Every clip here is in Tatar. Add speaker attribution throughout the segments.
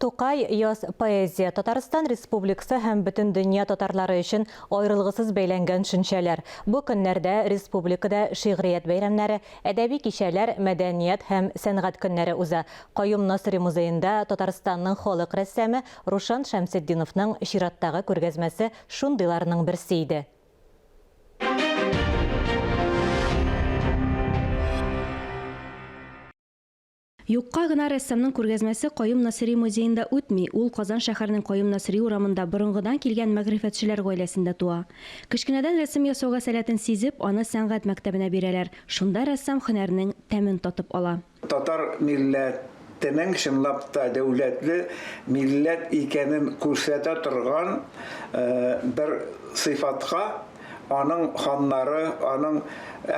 Speaker 1: Тукай, Яз поэзия, Татарстан Республиксы һәм бөтен дөнья татарлары өчен аерылгысыз бәйләнгән шөнчәләр. Бу көннәрдә республикада шигърият бәйрәмнәре, әдәби кичәләр, мәдәният һәм сәнгать көннәре уза. Каюм Насыйри музеенда Татарстанның халык рәссамы Рушан Шәмсетдиновның чираттагы күргәзмәсе шундыйларның берсе иде. Юкка гына рәссамның күргәзмәсе Каюм Насыйри музеенда үтми, ул Казан шәһәренең Каюм Насыйри урамында борынгыдан килгән мәгърифәтчеләр гаиләсендә туа. Кечкенәдән рәсем ясауга сәләтен сизеп, аны сәнгать мәктәбенә бирәләр, шунда рәссам һөнәрнең тәмен татып ала. Татар
Speaker 2: милләтенең чынлап та дәүләтле милләт икәнен күрсәтә торган бер сыйфатка, аның ханнары, аның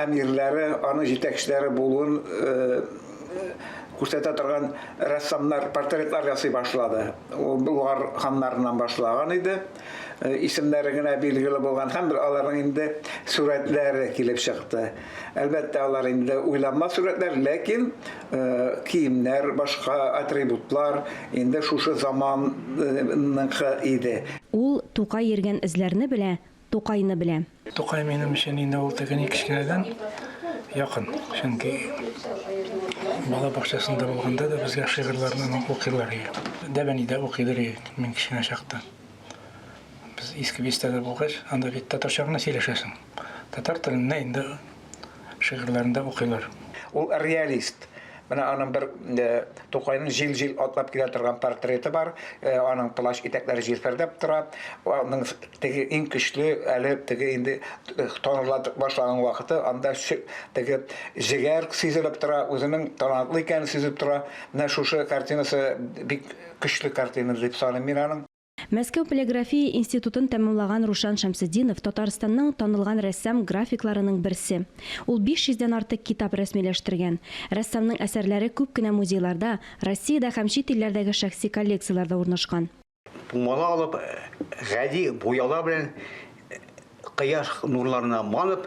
Speaker 2: әмирләре, аның җитәкчеләре булуын күрсәтә торган рәссамнар портретлар ясый башлады. Ул Болгар ханнарыннан башлаган иде. Исемнәре генә билгеле булган һәм аларның инде сурәтләре килеп чыкты. Әлбәттә, алар инде уйланма сурәтләр, ләкин киемнәр, башка атрибутлар инде шушы заманныкы иде. Ул Тукай
Speaker 1: йөргән эзләрне белә, Тукайны белә. Тукай минем өчен
Speaker 3: инде ул теге ни кечкенәдән якын, чөнки бала бакчасында булганда да безгә шигырьләрне аның укыйлар иде. Дәбәни дә укыйдыр иде мин кечкенә чакта. Без Иске Бистәдә булгач, анда бит татарча гына сөйләшәсең. Татар телендә инде шигырьләрендә укыйлар. Ул реалист.
Speaker 2: Менә аның бер Тукайның җил-җил атлап килә торган портреты бар. Аның плащ итәкләре җилфердәп тора. Аның теге иң көчле, әле теге инде таныла башлаган вакыты, анда теге җегәр сизелеп тора, үзенең талантлы икәнен сизеп тора. Менә шушы картинасы бик көчле картина дип саныйм мин аның. Мәскәү полиграфия
Speaker 1: институтын тәмамлаган Рушан Шәмсетдинов Татарстанның танылган рәссам графикларының берсе. Ул 500 дән артык китап рәсмиләштергән. Рәссамның әсәрләре күп кенә музейларда, Россиядә һәм чит илләрдәге шәхси коллекцияләрдә урнашкан. Тумала алып,
Speaker 4: гади буялар белән кояш нурларына манып,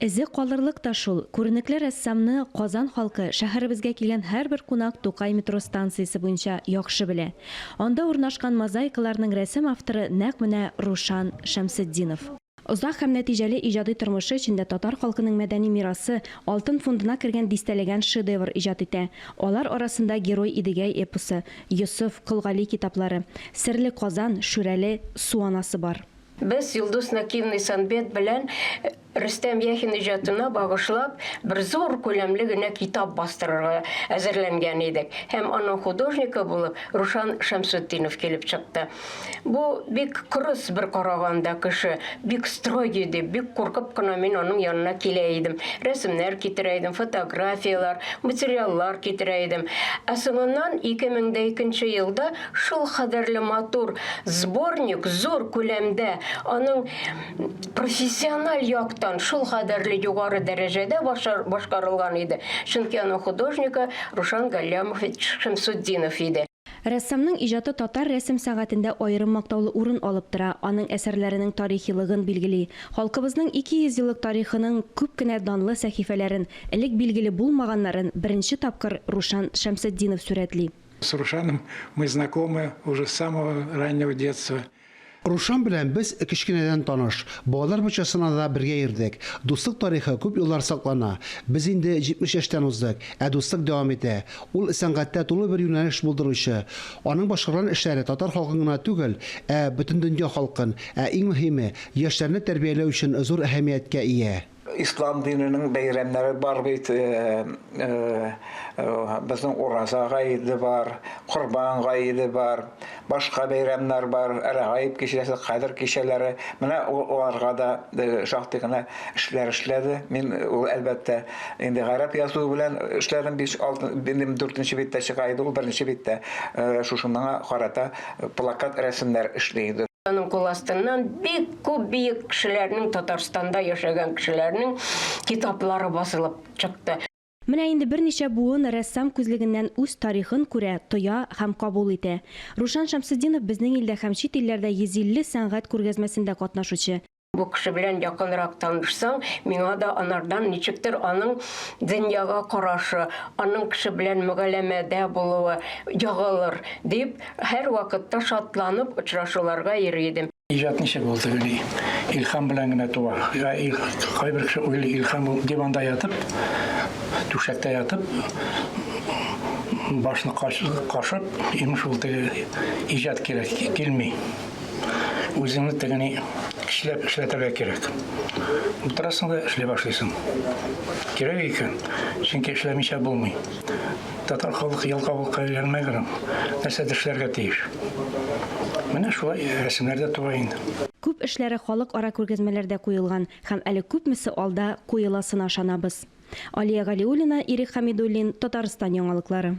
Speaker 4: Эзе калырлык
Speaker 1: та шул, күренекле рәссамны Казан халкы, шәһәребезгә килгән һәрбер кунак Тукай метро станциясе буенча яхшы белә. Анда урнашкан мозаикаларның рәсем авторы нәкъ менә Рушан Шәмсетдинов. Озак һәм нәтиҗәле иҗади тормышы эчендә татар халкының мәдәни мирасы алтын фондына кергән дистәләгән шедевр иҗат итә. Алар арасында Герой Идегәй эпосы, Йосыф, Кол Гали китаплары, Серле Казан, Шүрәле, Су анасы бар. Без Йолдыз
Speaker 5: Накиевна Санбет белән Рөстәм Яхин иҗатына багышлап бер зур күләмле генә китап бастырырга әзерләнгән идек. Һәм аның художникы булып Рушан Шәмсутдинов килеп чыкты. Бу бик кырыс бер караганда кеше, бик строгий дип, бик куркып кына мин аның янына килә идем. Рәсемнәр китерә идем, фотографияләр, материаллар китерә идем. Ә соңыннан 2002 нче елда Шул кадәрле матур сборник, зур күләмдә, аның профессиональ яктан шул кадәрле югары дәрәҗәдә башкарылган иде, чөнки аның художнигы Рушан Галлямович Шәмсутдинов иде. Рәссамның иҗаты
Speaker 1: татар рәсем сәнгатендә аерым мактаулы урын алып тора, аның әсәрләренең тарихилыгын билгели. Халкыбызның 200 еллык тарихының күп кенә данлы сәхифәләрен, элек билгеле булмаганнарын беренче тапкыр Рушан Шәмсетдинов сурәтли. С Рушаном
Speaker 3: мы знакомы уже с самого раннего детства. Рушан белән
Speaker 6: без кечкенәдән таныш. Балалар бакчасына да бергә йөрдек. Дуслык тарихы күп еллар саклана. Без инде 70 яшьтән уздык, ә дуслык дәвам итә. Ул сәнгатьтә тулы бер юнәлеш булдыручы. Аның башкарган эшләре татар халкын гына түгел, ә Бөтендөнья халкын, ә иң мөһиме, яшьләрне тәрбияләү өчен зур әһәмияткә ия. Ислам диненең
Speaker 2: бәйрәмнәре бар бит. Э, э, э, безнең Ураза гаиде бар, Корбан гаиде бар, башка бәйрәмнәр бар, Рәгаиб кичәсе, Кадер кичәләре. Менә аларга да шактый гына эшләр эшләде. Мин ул әлбәттә инде гарәп язуы белән эшләдем. 5-6 билем 4нче биттә чыга иде ул, беренче биттә шушы моңа карата плакат рәсемнәр эшли иде. Аның кул
Speaker 5: астыннан бик Күп биек кешеләрнең, Татарстанда яшәгән кешеләрнең китаплары басылып чыкты. Менә инде
Speaker 1: берничә буын рәссам күзлегеннән үз тарихын күрә, тоя һәм кабул итә. Рушан Шәмсетдинов безнең илдә һәм чит илләрдә 150 сәнгать күргәзмәсендә катнашучы. Бу кеше белән
Speaker 5: якынрак танышсаң, миңа да анардан ничектер аның дөньяга карашы, аның кеше белән мөгәләмәдә булуы ягылыр, дип, һәрвакытта шатланып очрашуларга йөри идем. Иҗат ничек ул тегели?
Speaker 3: Илхам белән генә туа. Я ил кайбер кеше уйлый илхам ул диванда ятып, түшәктә ятып, башны кашып, имеш ул теге иҗат кирәк, килми. Үзеңне тегени эшләп эшләтергә кирәк. Утырасың да эшли башлыйсың. Кирәк икән, чөнки эшләмичә булмый. Татар халкы ялкаулыкка өйрәнмәгән ул. Нәрсәдер эшләргә тиеш. Менә шулай рәсемнәр дә туа инде. Күп эшләре
Speaker 1: халыкара күргәзмәләрдә куелган һәм әле күпмесе алда куеласына ышанабыз. Алия Галиуллина, Ирек Хәмидуллин, Татарстан яңалыклары.